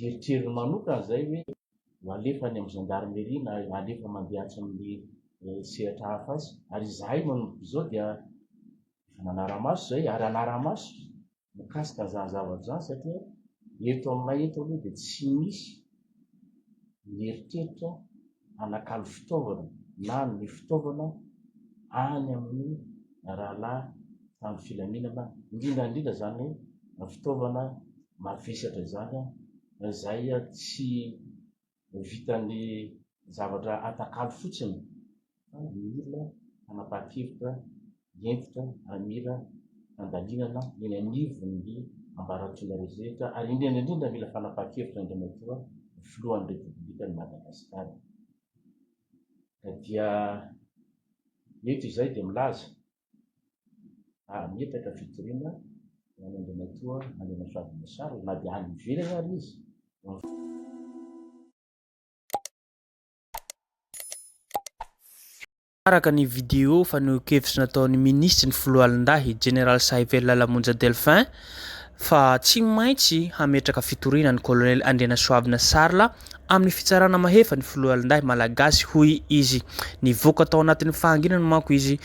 eritreriny manokana izay hoe ho alefa any amin'ny gendarmerie na alefa mandeha atsy amin'ny sehatra hafa atsy. Ary izahay manomboka izao dia efa manara-maso izay ary hanara-maso mikasika an'izany zavatra izany satria eto aminay eto aloha dia tsy misy mieritreritra hanakalo fitaovana na hanome fitaovana any amin'ny rahalahy tamin'ny filaminana, indrindra indrindra izany fitaovana mavesatra izany izay tsy vitan'ny zavatra atakalo fotsiny fa mila fanapahan-kevitra hentitra hamira fandalinana eny anivon'ny ambaratonga rehetra ary indrindra indrindra mila fanapahan-kevitra Andriamatoa Filohan'ny Repoblikan'i Madagasikara. Ka dia eto izahay dia milaza ary mietaka fitoriana ho an'Andriamatoa Andrianansoavina Machar na dia any ivelany ary izy. Araka ny video fanehoan-kevitra nataon'ny minisitry ny Foloalindahy, Jeneraly Sahivela Lamonja Delphin, fa tsy maintsy hametraka fitoriana ny Kolonely Andrianasoavina Charles amin'ny fitsarana mahefa ny Foloalindahy Malagasy, hoy izy. Nivoaka tao anatin'ny fahanginana manko izy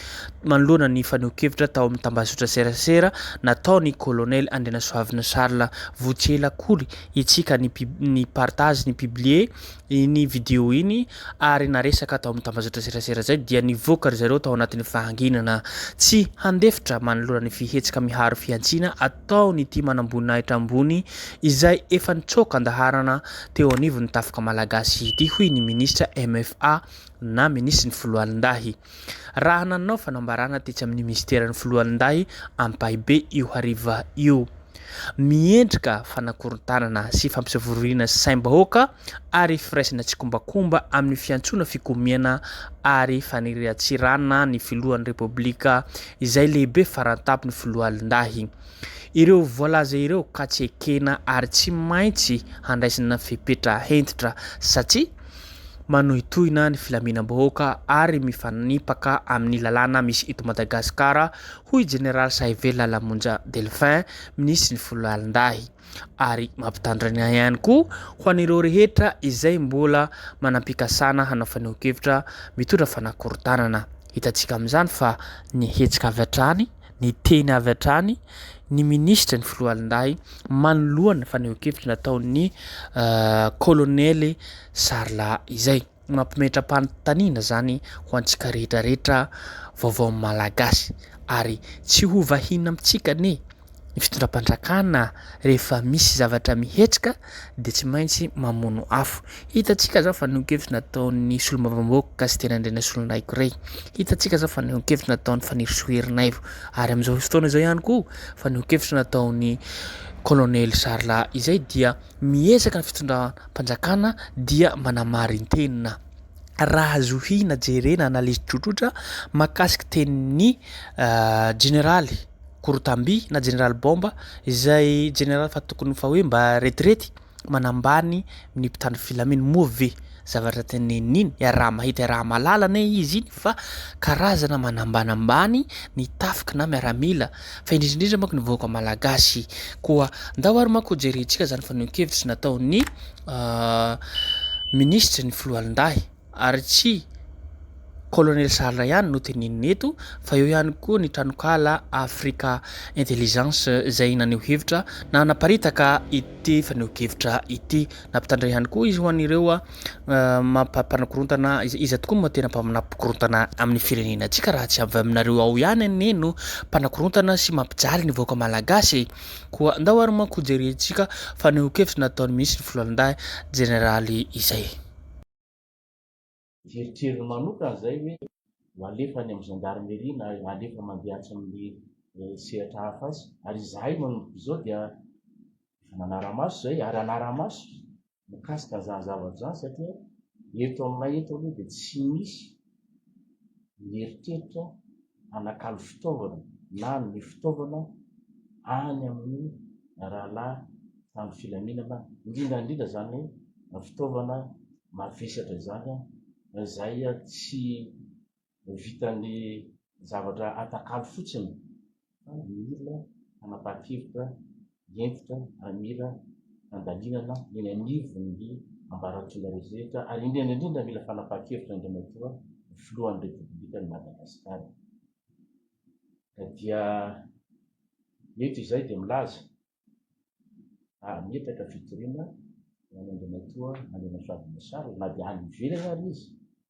manoloana ny fanehoan-kevitra tao amin'ny tambazotra serasera nataon'i Kolonely Andrianasoavina Charles. Votsy ela akory itsika ny ni-partage, ni-publier, Iny video iny ary naresaka tao amin'ny tambazotra-tserasera izay dia nivoaka ry zareo tao anatin'ny fahanginana tsy handefitra manoloana ny fihetsika miharo fihantsiana ataon'ity manamboninahitra ambony izay efa nitsoaka an-daharana teo anivon'ny tafika malagasy ity, hoy ny minisitra MFA na minisitry ny Foloalindahy. Raha nanao fanambarana tetsy amin'ny minisiteran'ny Foloalindahy Ampahibe io hariva io. Miendrika fanakorontanana sy fampisavoriana saim-bahoaka ary firaisana tsikombakomba amin'ny fiantsoana fikomiana ary fanirian-tsirana ny filohan'ny Repoblika izay lehibe faran-tampon'ny Foloalindahy ireo voalaza ireo ka tsy ekena ary tsy maintsy handraisana fepetra hentitra satria manohitohina ny filaminam-bahoaka ary mifanipaka amin'ny lalàna misy eto Madagasikara, hoy i Jeneraly Sahivelo Lalamonja Delphin, Minisitry ny Foloalindahy. Ary mampitandrina ahy ihany koa ho an'ireo rehetra izay mbola manam-pikasana hanao fanehoan-kevitra mitondra fanakorontanana. Hitantsika amin'izany fa ny hetsika avy hatrany. Niteny avy hatrany ny minisitry ny Foloalindahy manoloana ny fanehoan-kevitra nataon'ny kolonely Sarla izay mampimetra-panontaniana izany ho antsika rehetrarehetra vaovao Malagasy ary tsy ho vahiny amintsika anie ny fitondram-panjakana rehefa misy zavatra mihetsika dia tsy maintsy mamono afo. Hitantsika izao fa nihoan-kevitra nataon'ny solombavambahoaka Kasiteny Andrianasolonaiko Ray. Hitantsika izao fa nihoan-kevitra nataon'i Fanirisoa Erinaivo. Ary amin'izao fotoana izao ihany koa fa nihoan-kevitra nataon'ny Kolonely Charles izay dia miezaka ny fitondram-panjakana dia manamarin-tena. Raha zohina jerena analyse tsotrotra mahakasika tenin'ny Jeneraly. korotam-by na jeneraly baomba izay jeneraly fa tokony ho fa hoe mba retirety manambany ny mpitandro filamina moa ve zavatra teneniny iny iaraha-mahita iaraha-malala anie izy iny fa karazana manambanambany ny tafika na miaramila fa indrindra indrindra manko ny vahoaka malagasy koa ndao ary manko hojerentsika izany fanehoan-kevitra nataon'ny minisitry ny filohandahy Ary tsy Colonel Sahal ihany no tenenina eto fa eo ihany koa ny tranonkala Africa Intelligence izay naneho hevitra na naparitaka ity fanehoan-kevitra ity. Nampitandrina ihany koa izy ho an'ireo mampanakorontana izay iza tokoa moa tena mpaminapikorontana amin'ny firenena antsika raha tsy avy aminareo ao ihany anie no mpanakorontana sy mampijaly ny vahoaka malagasy e! Koa ndao ary manko hojerentsika fanehoan-kevitra nataon'ny minisitry ny Foloalindahy jeneraly izay. Eritreriny manokana izay hoe ho alefa any amin'ny gendarmerie na alefa mandeha atsy amin'ny sehatra hafa atsy. Ary izahay manomboka izao dia efa nanara-maso izay ary hanara-maso mikasika an'izany zavatra izany satria eto aminay eto aloha dia tsy misy mieritreritra hanakalo fitaovana na hanome fitaovana any amin'ny rahalahy tamin'ny filaminana, indrindra indrindra izany fitaovana mavesatra izany izay tsy vitan'ny zavatra atakalo fotsiny fa mila fanapahan-kevitra hentitra mila handalinana eny anivon'ny ambaratonga rehetra ary indrindra indrindra mila fanapahan-kevitra Andriamatoa Filohan'ny Repoblikan'i Madagasikara. Ka dia eto izay dia milaza ary mietaka fitoriana ho an'Andriamatoa Andrianasavy Masalo na dia any ivelany ary izy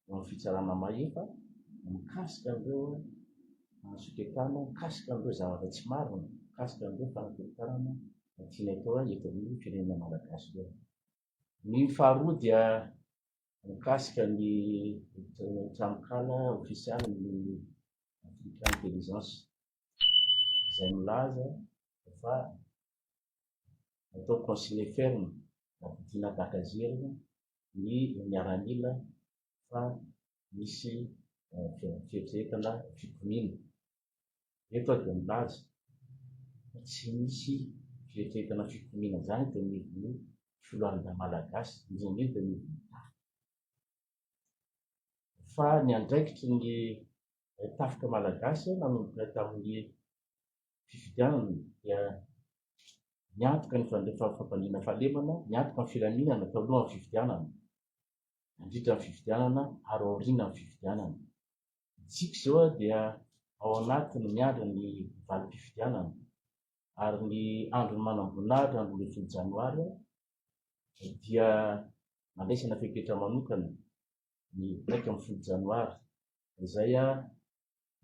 eo amin'ny fitsarana mahefa mikasika an'ireo fanasoketana, mikasika an'ireo zavatra tsy marina, mikasika an'ireo fanakorokarana tiany atao azy eto amin'ny firenena malagasy ireo. Ny faharoa dia mikasika ny tranonkala ofisialy ny Africa Intelligence izay milaza fa atao conseiller ferme na Bitina Bakazerina ny miaramila fa misy fieritreretana fikomiana. Eto aho dia milaza fa tsy misy fieritreretana fikomiana izany eto anivon'ny foloalindahy Malagasy, indrindra indrindra ny Tafika. Fa ny andraikitry ny Tafika Malagasy nanomboka tamin'ny fifidianana dia niantoka ny fandriampahafampaniana fahalemana, niantoka ny filaminana talohan'ny fifidianana, nandritra ny fifidianana ary aoriana ny fifidianana. Isika izao dia ao anatiny miandry ny valim-pifidianana ary ny andron'ny manamboninahitra ny roa ambin'ny folo janoary dia nandraisana fepetra manokana ny iraika ambin'ny folo janoary izay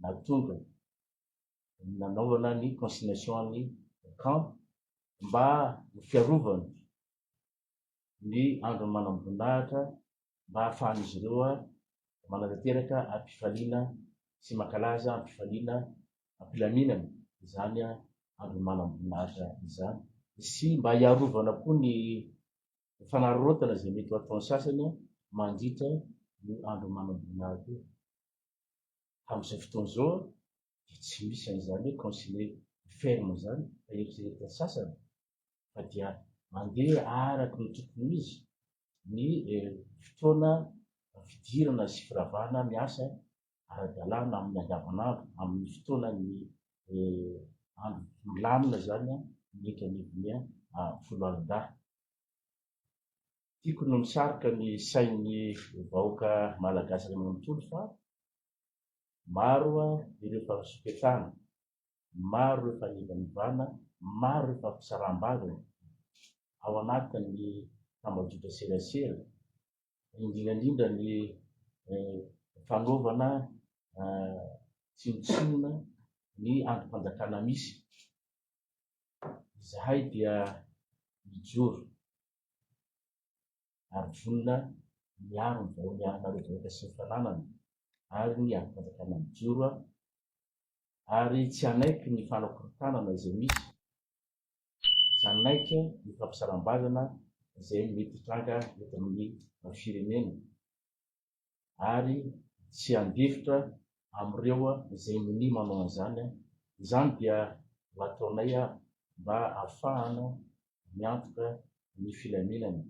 nahatonga nanaovana ny consignation an'ny camp mba ho fiarovana ny andron'ny manamboninahitra mba hahafahan'izy ireo manatanteraka am-pifaliana sy mankalaza am-pifaliana am-pilaminana izany andron'ny manamboninahitra izany sy mba hiarovana koa ny fanararaotana izay mety ho ataon'ny sasany mandritra io andron'ny manamboninahitra io. Amin'izao fotoana izao dia tsy misy an'izany hoe concile ferme izany fa eritreretin'ny sasany fa dia mandeha araka ny tokony ho izy ny fotoana fidirana sy firavana miasa ara-dalàna amin'ny andavanandro, amin'ny fotoanan'ny andro milamina izany ny eto anivon'ny foloalindahy. Tiako ny misarika ny sain'ny vahoaka Malagasy iray manontolo fa maro ireo fanasoketana, maro ireo fanivanivana, maro ireo fampisaraham-baviny ao anatin'ny tambajotra serasera, indrindra indrindra ny fanaovana tsinontsinona ny andrim-panjakana misy. Izahay dia mijoro. ary vonona miaro ny vahoany arinareo vahoaka sy ny fananany ary ny andrim-panjakana mijoro ary tsy hanaiky ny fanakorotanana izay misy, tsy hanaiky ny fampisaram-bazana izay mety hitranga eto amin'ny firenena. ary tsy handefitra amin'ireo izay minia manao an'izany, izany dia ho ataonay mba hahafahana miantoka ny filaminana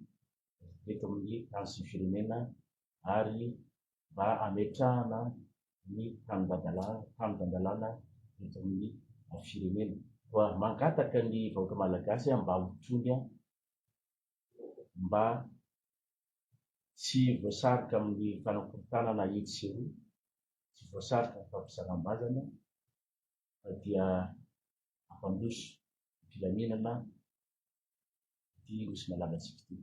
eto amin'ny tany sy ny firenena ary mba hametrahana ny tanindandalana eto amin'ny firenena. Mangataka ny vahoaka malagasy mba ho tony. mba tsy voasarika amin'ny fanakorontanana etsy sy eroa, tsy voasarika amin'ny fampisalam-bazana fa dia hampandroso ny filaminana ity Nosy malalantsika ity.